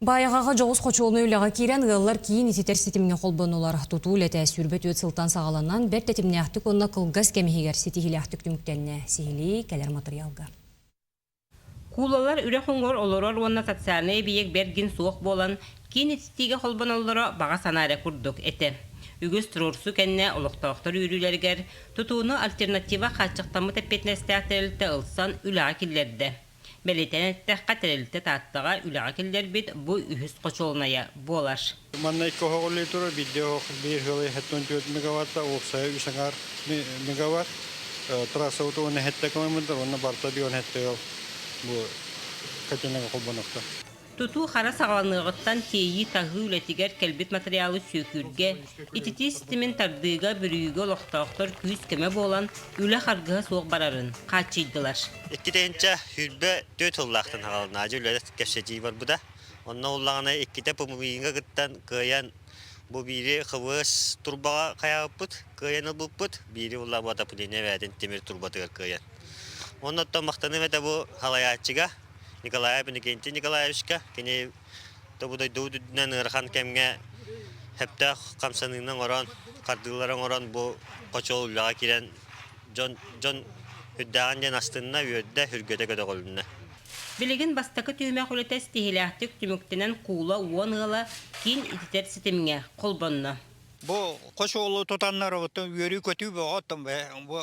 Баайаҕаҕа дьоҕус хочуолунай үлэҕэ киирэн, ыаллар киин ититэр ситимҥэ холбоннулар. Тутуу үлэтэ сүүрбэ түөрт сылтан саҕаланан, бэрт тэтимнээхтик уонна кылгас кэм иһигэр ситиһиилээхтик түмүктэннэ. Сиһилии кэлэр матырыйаалга. Куулалар үрэх уҥуор олорор уонна социальнай эбийиэк бэргин суох буолан, киин ититиигэ холбоноллоро баҕа санаа эрэ курдук этэ. Үгүс туруорсуу кэннэ олохтоохтор үөрүүлэригэр тутууну альтернатива хааччахтаммыт эппиэтинэстээх тэрилтэ ылсан үлэҕэ киллэрдэ. Бэлиэтэнэн эттэххэ, тэрилтэ Тааттаҕа үлэҕэ киллэрбит бу үһүс хочуолунайа буолар. Маннай көһөҕүллүү турар биирдэ оһох биэс ыал эһэттэн түөрт мегаватта, уопсайа үс аҥаар мегаватт, трассабыт уон эһэтэ километр уонна барта биир он эһэтэ ыал бу котельныга холбонохтор. Тутуу-хара саҕаланыаҕыттан тиэйии-таһыы үлэтигэр кэлбит матырыйаалы сүөкүүргэ, ититии ситимин тардыыга, бүрүйүүгэ олохтоохтор күүс-көмө буолан, үлэ харгыһа суох барарын хааччыйдылар. Иккитинчэ сүүрбэ түөрт сыллаахтан саҕаланаачы үлэ кэпсэтии барбыта. Онно ууллаҕына иккитэ пумовииҥҥа кыттан кыайан, бу биири ХВС турбаҕа хайаҕыппыт, кыайан ылбыппыт, биири ууллаабыта Путин эбээтин тимир турбатыгар кыайан. Онно оттон махтаныам этэ бу салайааччыга. Николай Иннокентий Николаевичка кини тобу дойду үрдүнэн ыарахан кэмҥэ сөптөөх хамсаныыны оҥорон, хардыылары оҥорон бу хочол үлэҕэ киирэн дьон дьон үрдээҕин диэн астынна, үөрдэ, үргэтэ көтөҕүлүннэ. Билигин бастакы түһүмэх үлэтэ ситиһиилээхтик түмүктэнэн куула уон ыала киин ититэр ситимҥэ холбонно. Бу хочуолу тутаннарыбытын үөрүү-көтүү бөҕөттөн бу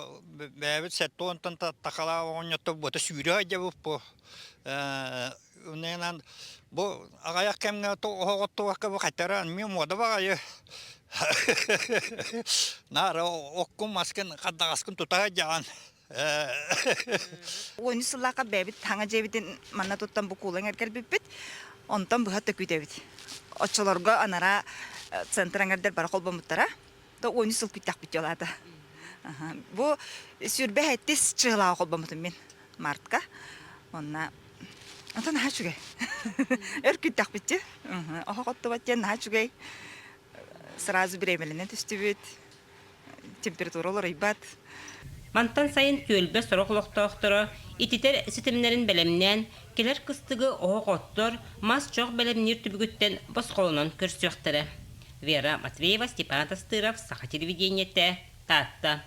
бэйэбит сэттэ уонтан такалаах оҕонньоттор бута сүүрэ айдьабыт бу иннинэн бу аҕайах кэмҥэ оһоҕоттубакка бу хайтара эмиэ муода баҕайы нары оккун маскын хаддаҕаскын тута айдьаҕан Ойун сыллаахха бэйэбит хаҥа дьиэбитин манна туттан бу куулан эргэрбиппит. Онтон быһа төкүтэбит. Оччолорго анараа центр аңардар бара холбомуттара. То ойун сыл күттэхпит жолаата. Бу сүрбэ хэттис чыылаҕа холбомутум мин мартка. Онна онтон наһаа үчүгэй. Өр күттэхпитчи. Оһох оттубат диэн наһаа үчүгэй. Сразу беременленэн түстүбүт. температура уларыйбат. Мантан сайын түөлбэ сорох олохтоохторо ититэр ситимнэрин бэлэмнээн, кэлэр кыстыгы оһох оттор, мас чох бэлэмниир түбүгүттэн босхолонон көрсүөхтэрэ. Вера Матвеева, Степан Атастыров, Саха телевидениетэ, Таатта.